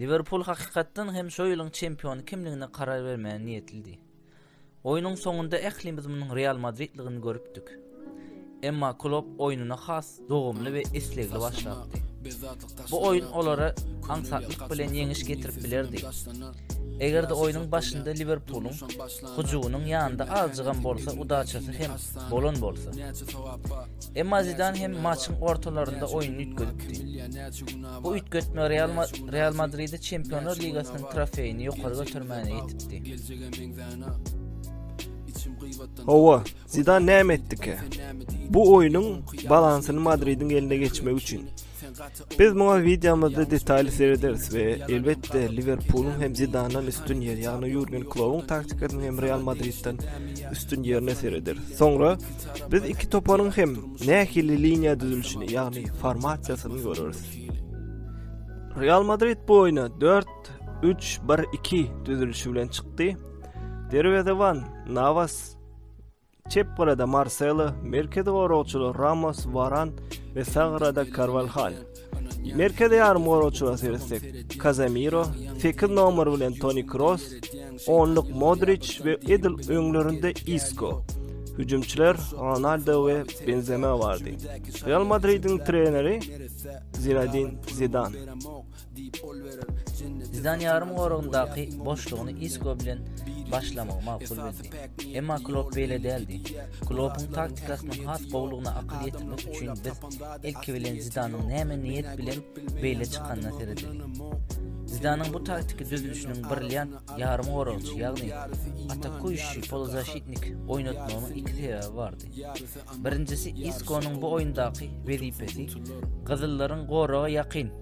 Liverpul hakykatdan hem şo ýylyň çempiony kimligine karar bermäge niýetlidi. Oýnuň soňunda ählimiz munuň Real Madridligini görüpdik. Emma Klopp oýnuna has dogumly we islegli başlapdy. Bu oýun olara aňsatlyk bilen ýeňiş getirip bilerdi. Eger-de oýnuň başynda Liwerpulyň hyjuwynyň ýanynda azjygam bolsa udaçasy hem bolan bolsa. Emma Zidan hem maçyň ortalarynda oýnuny üýtgedipdi. Bu üýtgetme Real Madridi Çempionlar ligasynyň trofeýini ýokary götermäne ýetipdi. Hawa, Zidan näme etdikä? Bu oýnuň balansyny Madridiň eline geçmek üçin. Biz muňa wideomyzda detaýly serederis we elbetde Liwerpulyň hem Zidandan üstün ýer, ýagny Jurgen Kloppuň taktikasynyň hem Real Madridden üstün ýerine serederis. Soňra biz iki toparyň hem nähili liniýa düzülişini, ýagny formasiýasyny göreris. Real Madrid bu oýna 4 3-1-2 düzülişi bilen çykdy. Derwezeban Navas çep gyrada Marcelo, merkezi goragçylar Ramos, Varan we sag gyrada Carvalhal. Merkezi ýarym goragçylara seretsek, Casemiro, 8 nomer bilen Toni Kroos, 10-luk Modric we edil öňlerinde Isco. Hüjümçiler Ronaldo we Benzema bardy. Real Madridiň treneri Zinedine Zidane. Zidan ýarym goragyndaky boşlugyny Isko bilen başlamagy makul bildi. Emma Klopp beýle däldi. Kloppyň taktikasynyň has gowulygyna akyl ýetirmek üçin biz ilki bilen Zidanyň näme niýet bilen beýle çykanyna seredeli. Zidanyň bu taktiki düzülişiniň brilliant ýarym goragçy, ýagny atakuýşi polozaşitnik oýnatmagynyň iki sebäbi bardy. Birinjisi Iskonyň bu oýundaky wezipesi gyzyllaryň goraga ýakyn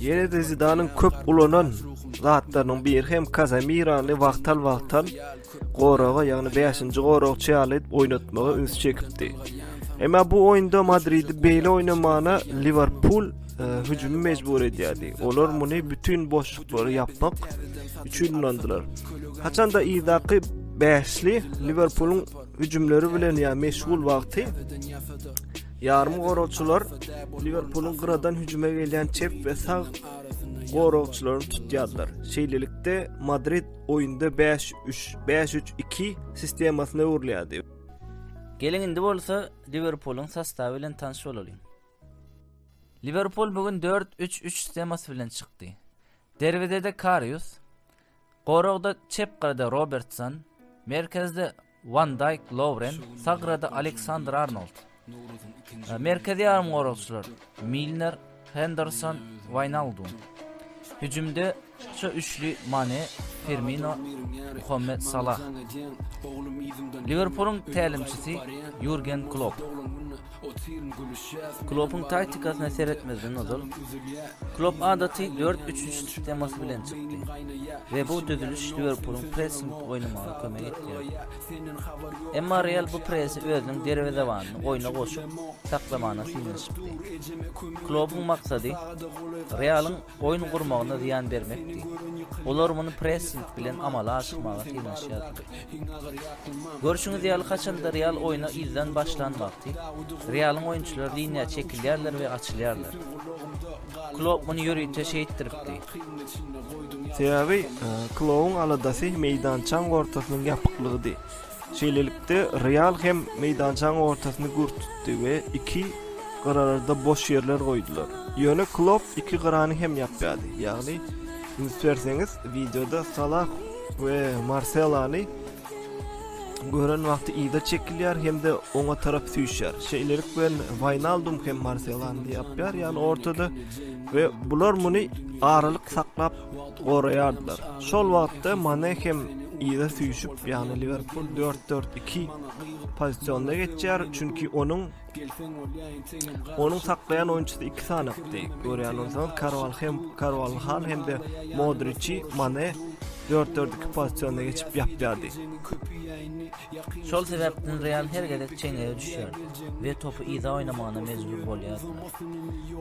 Ýene-de Zidanyň köp ulanan zatlarynyň biri hem Kazamirany wagtal-wagtal goraga, ýagny 5-nji goragçy ýaly oýnatmaga üns çekipdi. Emma bu oýunda Madridi beýle oýnamana Liwerpul e, hüjümi mejbur edýärdi. Olar muny bütin boşluklary ýapmak üçin ulandylar. Haçanda yzdaky bäşli Liwerpulyň hüjümleri bilen ýa meşgul wagty Ýarymgoragçylar Liwerpulyň gyradan hüjüme gelýän çep we sag goragçylaryny tutýarlar. Şeýlelikde, Madrid oýunda bäş üç, bäş üç iki sistemasyna öwrülýärdi. Geliň indi bolsa Liwerpulyň sostawy bilen tanyş bolalyň. Liwerpul bu gün dört üç üç sistemasy bilen çykdy. Derwezede Karius, goragda çep gyrada Robertson, merkezde Wan Daýk, Lowren, Sagrada, Aleksandr Arnold. Merkezi ýarymgoragçylar, Milner, Henderson, Waýnaldum. Hüjümde şu üçli Mane, Firmino, Muhammet Salah. Liwerpulyň tälimçisi Ýurgen Klopp. Kloppuň taktikasyna seretmezden ozal, Klopp adaty dört üç üç sistemasy bilen çykdy we bu düzüliş Liwerpulyň pressing oýnamagyna kömek etdi. Emma Real bu pressi özüniň derwezebanyny oýna goşup, saklamagyna synanyşypdy. Kloppuň maksady Realyň oýun gurmagyna zyýan bermekdi. Olar muny pressing bilen amala aşyrmaga synanyşýardy. Görşüňiz ýaly, haçanda Real oýna yzdan başlan wagty, Realyň oýunçylary liniýa çekilýärler we açylýarlar. Klopp muny ýörite şeýtdiripdi. Sebäbi Klowuň aladasy meýdançaň ortasynyň ýapyklygydy. Şeýlelikde, Real hem meýdançaň ortasyny gür tutdy we iki gyrarada boş ýerler goýdular. Ýöne Klopp iki gyrany hem ýapýardy. Ýagny, üns berseňiz, wideoda Salah we Marselany gören wagty yza çekilýär hem-de oňa tarap süýşýär. Şeýlelik bilen Waýnaldum hem Marselany ýapýar, ýagny ortada we bular muny aralyk saklap goraýardylar. Şol wagtda Mane hem yza süýşüp, ýagny Liwerpul dört, dört, iki pozisionda geçýär, çünki onuň onuň saklaýan oýunçysy iki sanakdy. Görýän bolsaňyz, Karwal hem Karwalhal hem-de Modriçi Mane dört, dört, iki pozisionda geçip ýapýardy. Şol sebäpden Real her gezek çeňňege düşýär we topy yza oýnamagyna mejbur bolýardylar.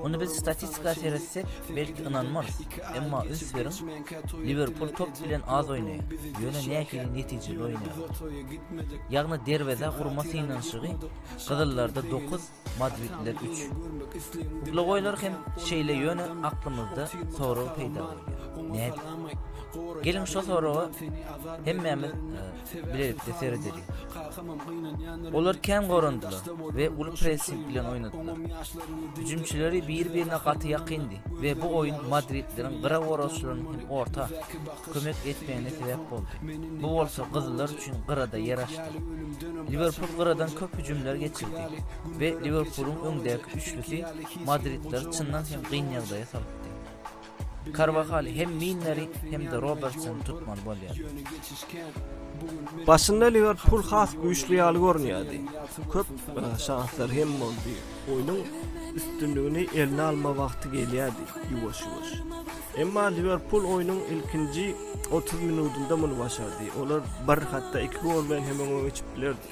Muny biz statistika seretsek, belki ynanmarys. Emma üns beriň, Liwerpul top bilen az oýnaýar, ýöne nähili netijeli oýnaýar. Ýagny derwezä urma synanyşygy gyzyllarda dokuz, madridliler üç. Uglagoýlar hem şeýle ýöne aklymyzda sorag peýda bolýar. Nädip? Geliň şo soraga hemmämiz bilelikde seredeli. Olar kän gorandylar we uly pressing bilen oýnadylar. Hüjümçileri biri-birine gaty ýakyndy we bu oýun madridlileriň gyra goragçylarynyň hem orta kömek etmegine sebäp boldy. Bu bolsa gyzyllar üçin gyrada ýer açdy. Liwerpul gyradan köp hüjümler geçirdi we Liwerpulyň öňdäki üçlüsi madridlileri çyndan hem gyn ýagdaýa salypdy. Karwahal hem Milneri, hem-de Robertsony tutmaly bolýar. Başynda Liwerpul has güýçli ýaly görünýärdi. Köp e, şanslar hem boldy. Oýnuň üstünligini eline alma wagty gelýärdi ýuwaş-ýuwaş. Emma Liwerpul oýnuň ilkinji 30 minutynda muny başardy. Olar bir hatda iki gol bilen hem öňe geçip bilerdi.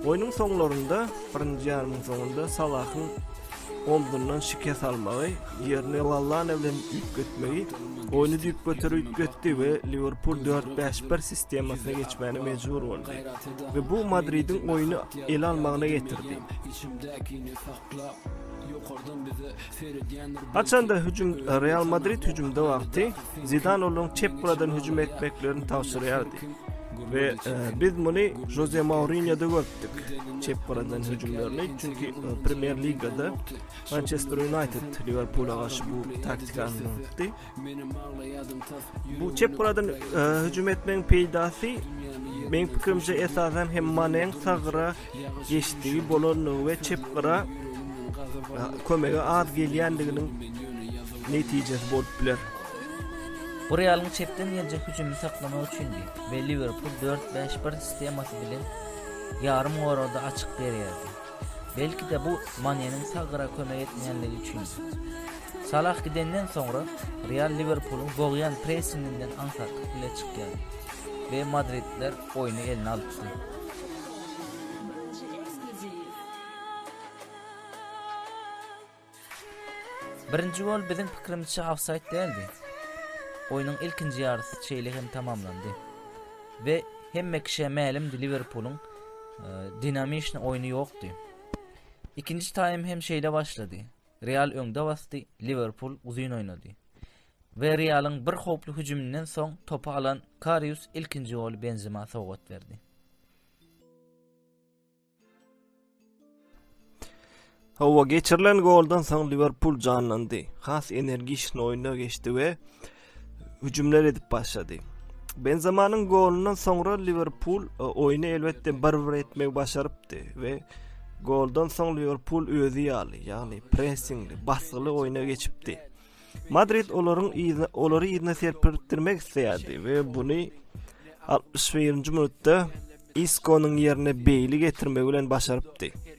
Oýnuň soňlarynda, birinji ýarymyň soňunda Salahyň omzundan şikes almagy, ýerini Lallana bilen üýtgetmegi oýny düýp göter üýtgetdi we Liwerpul dört-bäş-bir sistemasyna geçmäne mejbur boldy we bu Madridiň oýny ele almagyna getirdi. Haçanda hüjüm Real Madrid hüjümde wagty Zidan olaryň çep buradan hüjüm etmeklerini tabşyrýardy. We biz muny Jose Mourinhoda görüpdik. Çep buradan hüjümlerini çünki Premier Ligada Manchester United Liverpula garşy bu taktikany ulandy. Bu çep goladan hüjüm etmegiň peýdasy meň pikirimçe esasan hem Maneň sag gyra geçdigi bolandygy we çep gyra kömege az gelýändiginiň netijesi bolup biler. Bu Realyň çepden geljek hüjümini saklamak üçindi we Liwerpul dört-bäş-bir sistemasy bilen ýarym goragda açyk berýärdi. Belki-de bu Maneniň sag gyra kömek etmeýänligi üçindi. Salah gidenden soňra Real Liwerpulyň bogýan pressinginden aňsatlyk bile çykýar we madridliler oýny eline alypdy. Birinji gol biziň pikirimizçe ofsaýd däldi. Oýnuň ilkinji ýarysy şeýle hem tamamlandy. We hemme kişä mälimdi Liwerpulyň e, dinamişni oýny ýokdy. Ikinji taým hem şeýle başlady. Real öňde basdy, Liwerpul uzyn oýnady we Realyň bir howply hüjüminden soň topy alan Karius ilkinji goly Benzema sowgat berdi. Hawa, geçirilen goldan soň Liwerpul janlandy. Has energişni oýna geçdi we hüjümler edip başlady. Benzemanyň golundan soňra Liverpul e, oýny elbetde bir-bir etmegi başarypdy we goldan soň Liverpul özi ýaly, ýagny pressingli, basgyly oýna geçipdi. Madrid olaryň ýygyna olary ýygyna serpirtdirmek isleýärdi we buny 61-nji minutda Iskonyň ýerine Beýli getirmegi bilen başarypdy.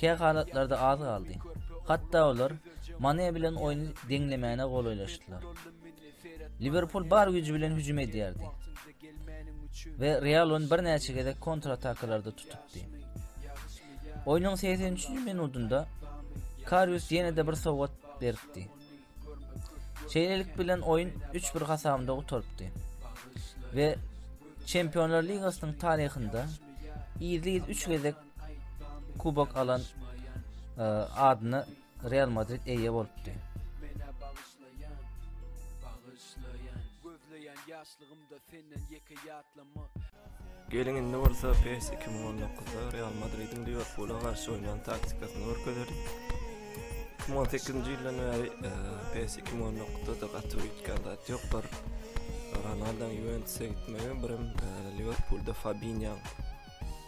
Kä halatlarda az galdy. Hatda olar Mane bilen oýny deňlemäne golaýlaşdylar. Liwerpul bar güýji bilen hüjüm edýärdi we Real ony birnäçe gezek kontratakalarda tutupdy. Oýnuň 83-nji minutynda Karius ýene-de bir sowgat beripdi. Şeýlelik bilen oýun 3-1 hasabynda gutarypdy. We Çempionlar ligasynyň taryhynda ýygy 3 gezek kubok alan e, adyna Real Madrid eýe bolupdy. Geliň indi bolsa PES 2019-da Real Madridiň Liverpula garşy oýnan taktikasyny görkezerin. 2018-nji ýyldan bäri e, PES 2019-da da gaty üýtgän zat ýokdur. Ronaldoň Juventusa gitmegi, birem e, Liverpulda Fabinýoň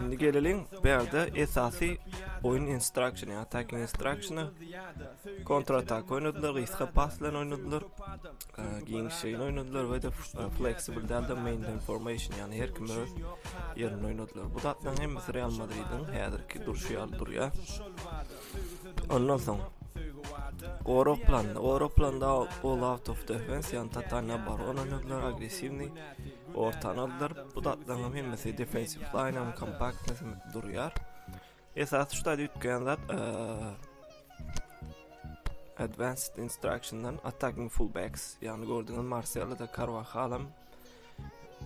Indi geleliň, bu ýerde esasy oýun instruction, ýa attacking instruction, kontra atak oýnadylar, gysga pas bilen oýnadylar, giň şeýin oýnadylar we de flexible dälde maintain formation, ýani her kim öz ýerinde oýnadylar. Bu zatlaryň hemmesi Real Madridiň häzirki durşy ýaly durýar. Ondan soň Gorok planda, gorok planda all out of defense, ýani totalna barona oýnadylar, agressiwni. Ortany aldyryp, bu zatlaryň hemmesi defensiw laýnyň kompaktny sümüp durýar. Esasy şu zat üýtgeýän zat Advanced Instruction'dan Attacking Fullbacks, ýagny gördüňiz Marcelo da Carvajal hem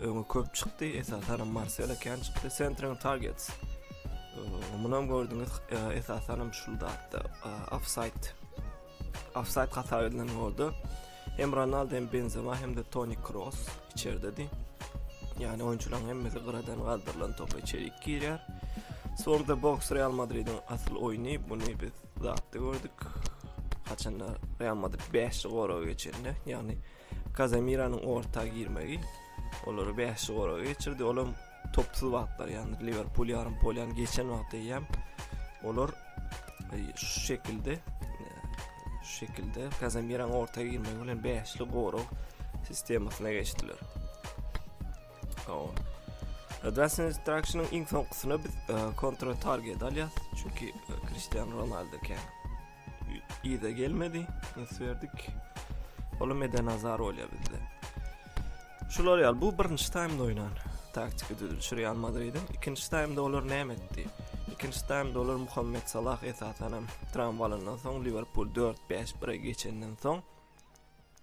öňe köp çykdy, esasan hem Marcelo kän çykdy, Centering Targets. Munam gördüňiz esasan hem şu zatda offside offside hata edilen boldy. Hem Ronaldo hem Benzema hem de Toni Kroos içerdedi. Yani oyuncuların hemmesi gıradan kaldırılan topa içerik girýär. Sonda boks Real Madrid'in asıl oyunu bunu biz zatda gördük. Haçanda Real Madrid 5 gora geçende yani Cazemira'nın orta girmegi olary 5 gora geçirdi. Olam Topsuz wagtlar ýagny Liverpul ýarym polýany geçen wagty eýem olar e, şu şekilde e, şu şekilde Kazemiran orta girmegi bilen 5-li gorag sistemasyna geçdiler. O. Advanced Instruction-yň iň soňkusyna biz e, kontrol target alýas, çünki Cristiano Ronaldo kän. Ýa-da gelmedi. Ins berdik. Olam eden azar bolýar bizde. Şular ýaly bu birinji taýmda oýnan taktiki düzülişi Real Madridin. Ikinji taýmda olar näme etdi? Ikinji taýmda olar Muhammed Salah esasan hem tramwalandan soň Liverpool 4-5-1-e geçenden soň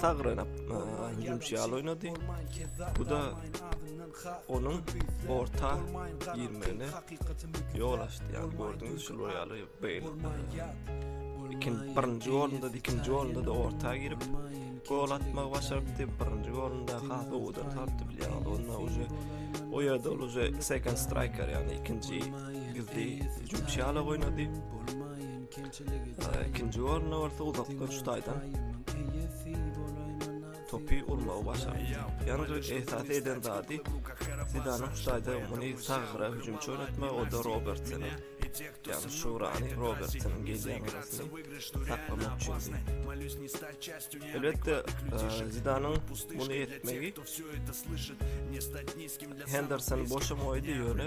Sagranyp, hüjümçi ýaly oýnady. Bu da onuň orta girmegine ýol açdy. Ýagny gördüňiz şu ýaly beýl. Ikin birinji golunda, ikinji golunda da orta girip gol atmagy başardy. Birinji golunda has gowudan tapdy bilýär. Onda uje o ýerde ol uje second striker, ýagny ikinji gizli hüjümçi ýaly oýnady. Ikinji orunda bolsa uzak görüş taýdan topy urmagy başardy. Ýalňyş esasy eden zady Zidanyň şu taýda muny sagra hüjümçi oynatma, o da Robertsona. Yani Şurani Robertson'un gelýän arasy saklamak üçin. Elbetde e, Zidanyň muny etmegi Henderson boşa goýdy ýöne